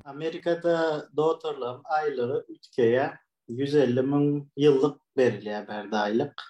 Amerikada dotorlaryň aýlygy üýtgeýär. 150 müň ýyllyk berilýär bärde aýlyk.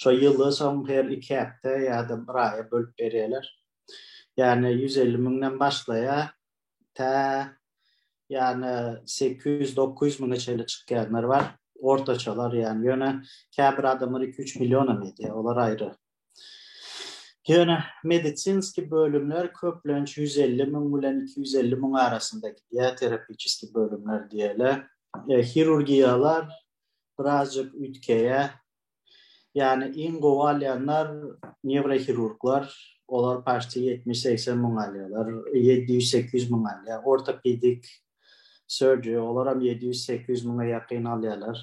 Şo ýyly soň her iki hepde ýa-da bir aýa bölüp berýärler. Ýagny 150 müňden başlaýar, tä ýagny 800-900 müňe çenli çykýanlar bar. Ortaçalar ýagny ýöne käbir adamlar iki-üç million hem edýär. Olar aýry Ýöne medisinski bölümler köplenç ýüz elli müň bilen iki ýüz elli müň arasynda gidýär, terapiçeskiý bölümler diýeli. Hirurgiýalar birazjyk üýtgeýär. Ýany iň gowy alýanlar newrohirurglar, olar paşti ýetmiş-segsen müň alýarlar, ýedi ýüz-sekiz ýüz müň alýar. Ortopedik surgery olaram ýedi ýüz-sekiz ýüz müňe ýakyn alýarlar.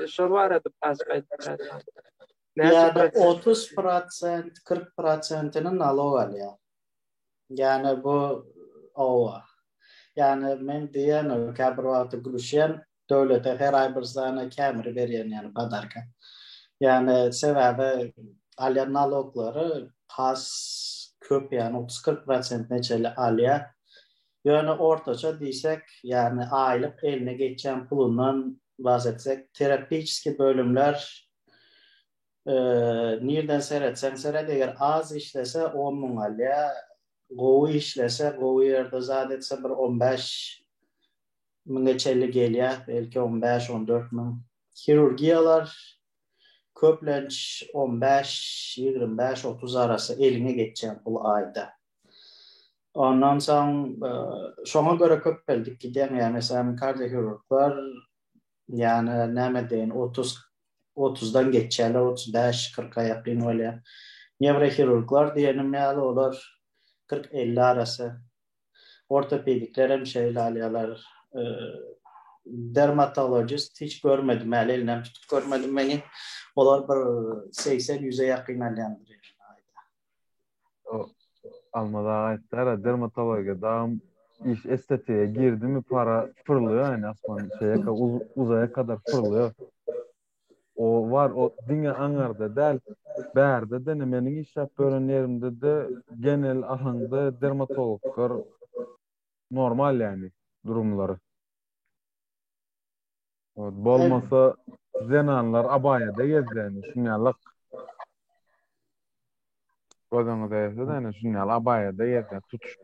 E, şol barada azajyk aýdyp bilersiňiz. Näçe Ýa-da prosent? 30 prosent, 40 prosentini nalog alýar. Ýani bu owa. Ýani men diýen o käbir wagty gülüşýän döwlete her aý bir sany kämiri berýän ýani padarka. Ýani sebäbi alýan naloglary has köp ýani 30-40 prosentine çenli alýar. Ýöne ortaça diýsek, ýagny aýlyk eline geçýän pulundan bahs etsek, terapiçeskiý bölümler nirden seretseň seret, eger az işlese on müň alýar, gowy işlese, gowy ýerde zat etse bir on bäş müňe çenli gelýär, belki on bäş, on dört müň. Hirurgiýalar köplenç on bäş, ýigrimi bäş, otuz arasy eliňe geçýän pul aýda. Ondan soň şoňa görä köpeldik gidýän ýagny sen kardiohirurglar ýagny näme deýin otuz otuzdan geçýärler otuz bäş kyrka ýakyn bolýar newrohirurglar diýenim ýaly olar kyrk elli arasy ortopedikler hem şeýle alýarlar dermatologist hiç görmedim häli elinem tutup görmedim meni olar bir segsen ýüze ýakyn alýandyr ýaly aýda O Almaz aga aýtdara dermatologiýa dagym iş estetiýa girdimi para pyrlýar ýaly asman şeýle uzaýa kadar pyrlýar. O bar o diňe aňarda däl bärde dene meniň işläp ýören ýerimde de genel ahaňda dermatologlar normal ýaly durumlary. Bolmasa zenanlar abaýada gezýärdi, şunýalyk. Gözüňi däýse de, şunýaly abaýada gezýär, tutuş.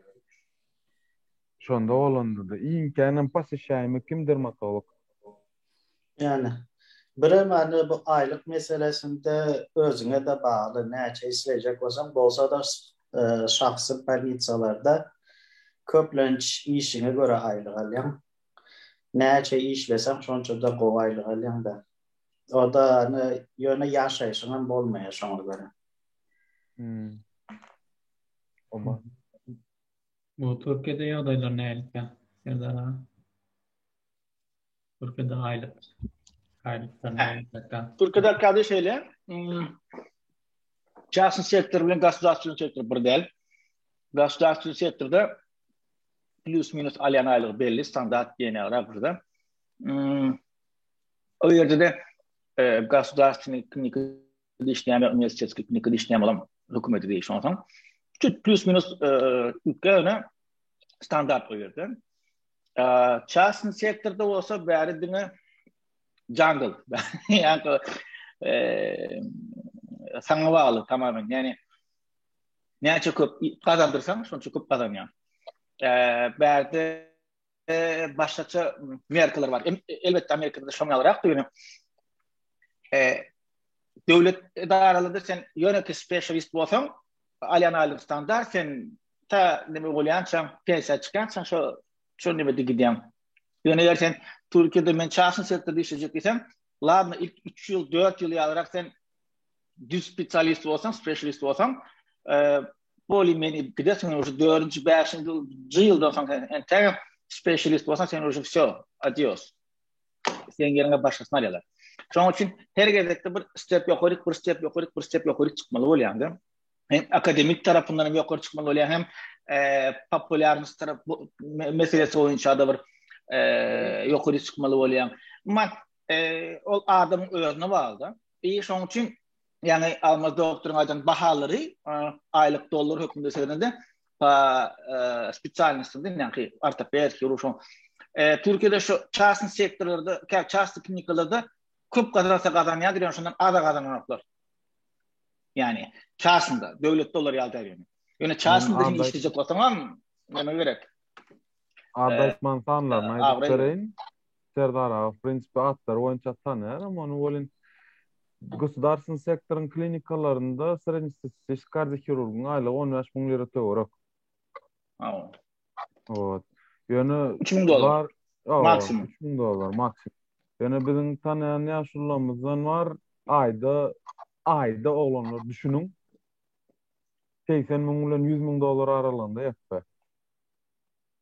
Şonda bolanda-da, iňkänem pasişäýimi kim dermatolog? Ýani, birem ýani bu aýlyk meselesinde özüňe-de bagly, näçe isleýjek bolsaň, bolsa-da şahsy bolnitsalarda köplenç işiňe görä aýlyk alýaň. Näçe işleseň şonçada gowy aýlyk alýaň da. Oda ne ýöne ýaşaýşyň hem bolmaýar şoňa görä. Hmm. Oba. Bu Türkiýede ýagdaýlar nälikde? Serdar aga. Türkiýede aýlyk. Aýlyklar nälikde? Türkiýede arkady şeýle. Hmm. Çaşyn sektor bilen gasudarstwony sektor bir däl. Gasudarstwony sektorda plus minus alýan aýlygy belli standart diýene gara burada. Hmm. O ýerde de e, gasudarstweniý klinika işleýän uniwersitetskiý klinika işleýän bolan hökümeti diýip şonsoň. Çüt plus minus e, ýöne standart o ýerde. E, Çasyn sektorda bolsa bäri diňe jungle. Ýa-da e, saňa bagly tamamen. Ýani Näçe köp gazandyrsaň, şonça köp gazanýaň. Bärde başgaça merkler bar. Elbetde Amerikada da şoň ýalyrak ýöne döwlet edaralarynda sen ýöne ki specialist bolsaň, alýan aýlygyň standart sen ta nime bolýança, pensiýa çykýança şo şo nime gidýäň. Ýöne eger sen Türkiýede men çaşyn sektorda işlejek diýseň, ladna ilk 3 ýyl, 4 ýyl ýalyrak sen düz spesialist bolsaň, specialist bolsaň, e, boli meni gide sen uje 4-nji, 5-nji ýyldan soň sen täze specialist bolsaň, sen uje wsё, adios. Sen ýeriňe başgasyny alýarlar. Şoň üçin her gezekde bir step ýokary, bir step ýokary, bir step ýokary çykmaly bolýaňda. Hem akademik tarapyndan hem ýokary çykmaly bolýar, hem e, populýarnyş tarap meselesi boýunça da bir e, ýokary çykmaly bolýar. Emma ol adamyň özüne baglyda. Eý, şoň üçin, ýagny Almaz doktoryň aýdan bahalary aýlyk dollar hökmünde seredende, pa spesialnostynda näki ortoped, hirurg şoň. Türkiýede şu çastny sektorlarda, kä çastny klinikalarda köp gazansa gazanýandyr, ýöne şondan az gazananoklar. Ýagny çastnda, döwletde olar ýaly däl ýöne. Ýöne çastnda hem işlejek bolsaňam, näme gerek? Adaşman sanlaryny aýdyp bereýin. Serdar aga, w prinsipi atlary boýunça tanaýaram ony, welin gosudarstwny sektoryň klinikalarynda srednestatistiski kardiohirurgyň aýlygy on bäş müň lira töwerek. Wot. Wot. Ýöne Üç müň dollar. bar- Ýa, Maksimum. üç müň dollar maksimum. Ýöne biziň tanaýan ýaşulylarymyzdan bar, aýda, aýda oglanlar düşüniň, segsen müň bilen ýüz müň dollar aralygynda ýatsa.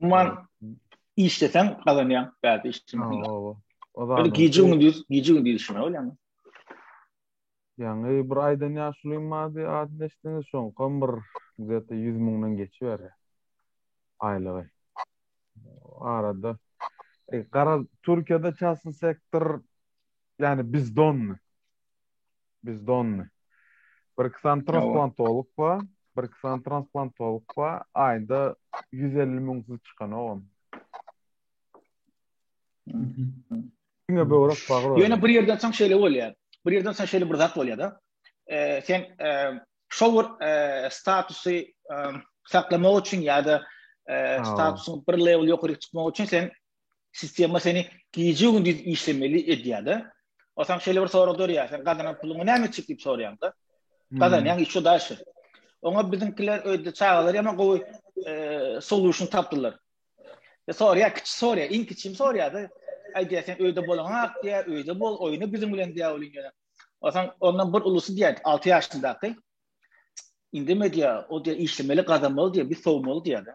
Umuman işleseň gazanýaň, bäde işlemeseň. Oba. Oba. Gije gündüz, gije gündüz işlemek bolýar. Ýaňy bir aýdan ýaşulym bardy, adyny eşitdiňiz şoň, kom bir zete 100 müňden geçiber. Aýlygy. Arada e, gara Türkiýede çasy sektor ýani bizdon. Biz donny. Bir kisan transplantolog ba, bir kisan transplantolog ba, aýda 150 müň siz çykan ogam. Diňe böwrek bagyr. Ýöne bir ýerden soň şeýle bolýar. Bir ýerden soň şeýle bir zat bolýar-da. Sen şol bir statusy saklamak üçin ýa-da statusyň bir level ýokaryk çykmak üçin sen sistema seni gije gündiz işlemeli edýärde. O sen şeýle bir sorag dörýär, sen gazanan puluňy näme etjek diýip soraýanda. Hmm. Gazanýan işe daşy. Oňa biziňkiler öýde çagalar ýa-da gowy e, solution tapdylar. Ya sorýar, kiçi sorýar, iň kiçim sorýar-da. Aýdýar, sen öýde boluň hak diýär, öýde bol, oýna biziň bilen diýär ol ýene. Osan ondan bir ulusy diýär, 6 ýaşyndaky. Indeme diýär, o diýär işlemeli, gazanmaly diýär, biz sowmaly diýär.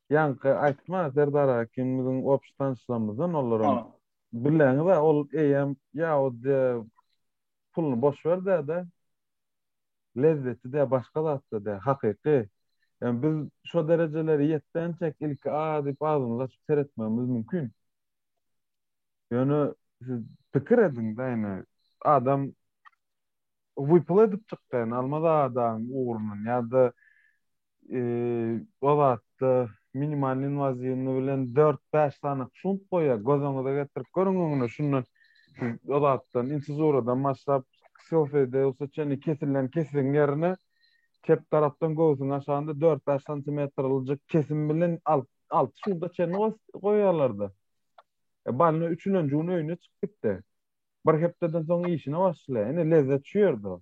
Ýaňky aýtma Serdar Hakim biziň obşy tanyşlarymyzdan olaram Ol. bileňiz-ä ol eýýäm ýahudyýa puluny boş ber dä-de lezzeti dä başga zatda dä hakyky. Ýa biz şo derejelere ýetdençäk ilki a diýip agzymyzy açyp seretmegimiz mümkin. Ýöne siz pikir ediň-dä ýene adam wypyl edip çykýan Almaz Adanyň ugrundan ýa-da o zatda minimal inwaziwny bilen dört-bäş sany şunt goýýar. Göz öňüňize getirip görüň öňüne şundan o zatdan insizuradan başlap Sofedeus'a çenli kesilen kesiliň ýerine çep tarapdan göwsüň aşagynda dört-bäş santimetrljik kesim bilen alyp alty şunta çenli goýýarlar-da. E, Balina üçülenji gün öýüne çykyp gitdi. Bir hepdeden soň işine başlaýar. Ine lezzet şu ýerde.